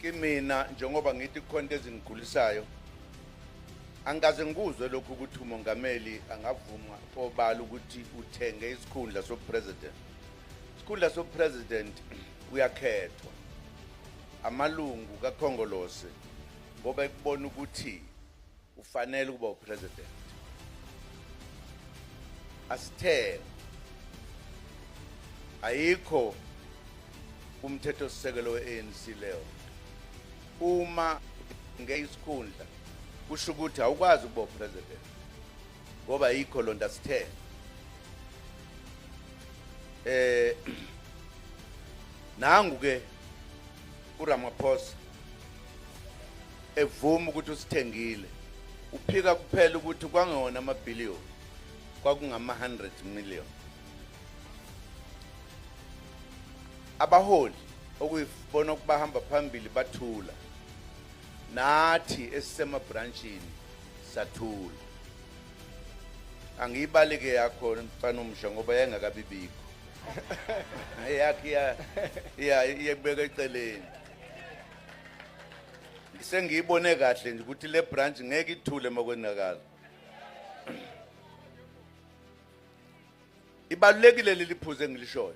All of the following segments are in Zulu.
kimina njengoba ngithi kukhona into ezingigulisayo angikaze ngikuzwe lokhu ukuthi umongameli angavuma obala ukuthi uthenge isikhundla sobupresident isikhundla sobupresident kuyakhethwa amalungu kakhongolose ngoba ekubona ukuthi ufanele ukuba upresident asithele ayikho umthetho sisekelo weANC leyo uma ngeyisikhundla kusho ukuthi awukwazi ukuba upresident ngoba ayikho lonto asithele eh nangu ke uRamaphosa evuma ukuthi usithengile uphika kuphela ukuthi kwangewona amabhiliyoni kwakungama-100 million abaholi okuyibona ukubahamba phambili bathula nathi esisemabranchini sathula angiyibaleke yakho mfana umsha ngoba yayingakabibikho yakhe iya iya iyekubeka eceleni sengiyibone kahle nje ukuthi le branch ngeke ithule makwenzakala ibalulekile leli phuze engilishoyo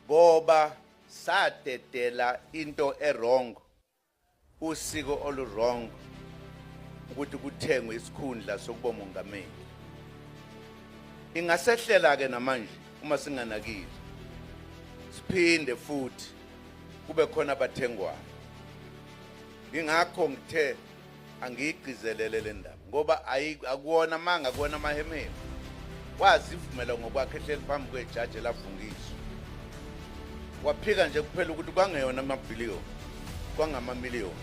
ngoba sadedela into erong Usiko oluwrong ukuthi kuthengwe isikhundla sokuba umongameli. Ingasehlela ke namanje uma singanakile. Siphinde futhi kube khona abathengwayo. Ingakho ngithe angiyigcizelele le ndaba. ngoba akuwona amanga akuwona amahemeni wazivumela ngokwakhe ehleli phambi kwejaji elafungiswa waphika nje kuphela ukuthi kwangeyona amabhiliyoni kwangamamiliyoni